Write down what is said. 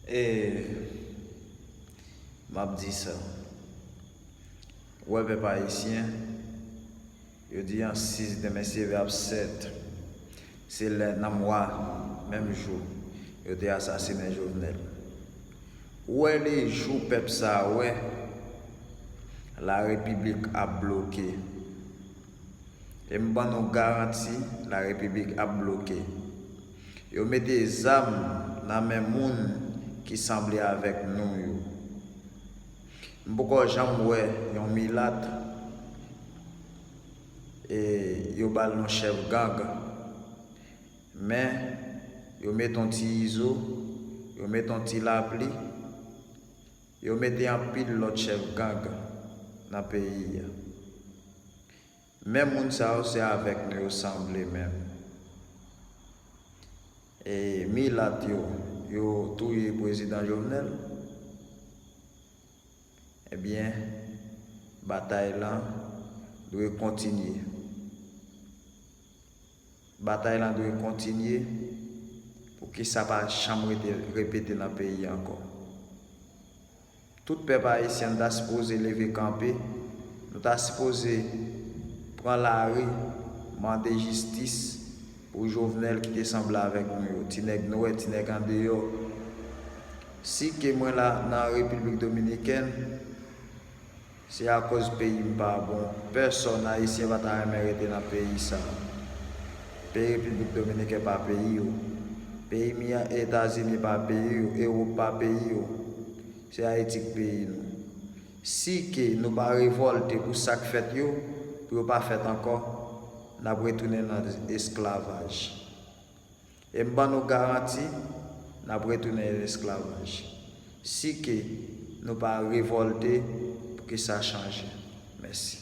Eehh map di sa ou wè pèp ayisyen yo di an 6 demen se ap 7 se lè nan mwa menm jou yo te asasinen jovenel ou wè li jou pèp sa wè la repiblik ap bloke em ban nou garanti la repiblik ap bloke. Yo mete zam nan men moun ki sanble avèk nou yo. M poko janm wè yon milat e yo ba l non chèf gang. Men, yo mete yon ti izo, yo mete yon ti lapli, yo mete anpil lòt chèf gang nan peyi a. Men moun sa yo se avek nou yo sanble menm e milat yo yo touye prezidan jovenel ebyen batay lan dwe kontinye. Batay lan dwe kontinye pou ke sa pa janm rete repete lan peyi ankò. Tout pèp ayisyen nou ta sipoze leve kanpe, nou ta sipoze pran lari mande jistis pou Jovenel ki te sanble avèk nou yo, ti nèg nwè, ti nèg andeyò. Si ke mwen la nan Repiblik Dominikèn. Se akoz peyi m pa bon. Pèsòn ayisyen pa ta renmen rete nan peyi sa. Peyi Repiblik Dominiken pa peyi yo. Peyi m yan Etazini pa peyi yo, Ewop pa peyi yo. Se Ayiti k peyi nou. Si ke nou pa revòlte pou sa k fèt yo, pou yo pa fèt ankò, n ap retounen nan esklavaj. E m ban nou garanti, n ap retounen nan lesklavaj. Si ke nou pa revòlte pou ke sa chanje. Mèsi.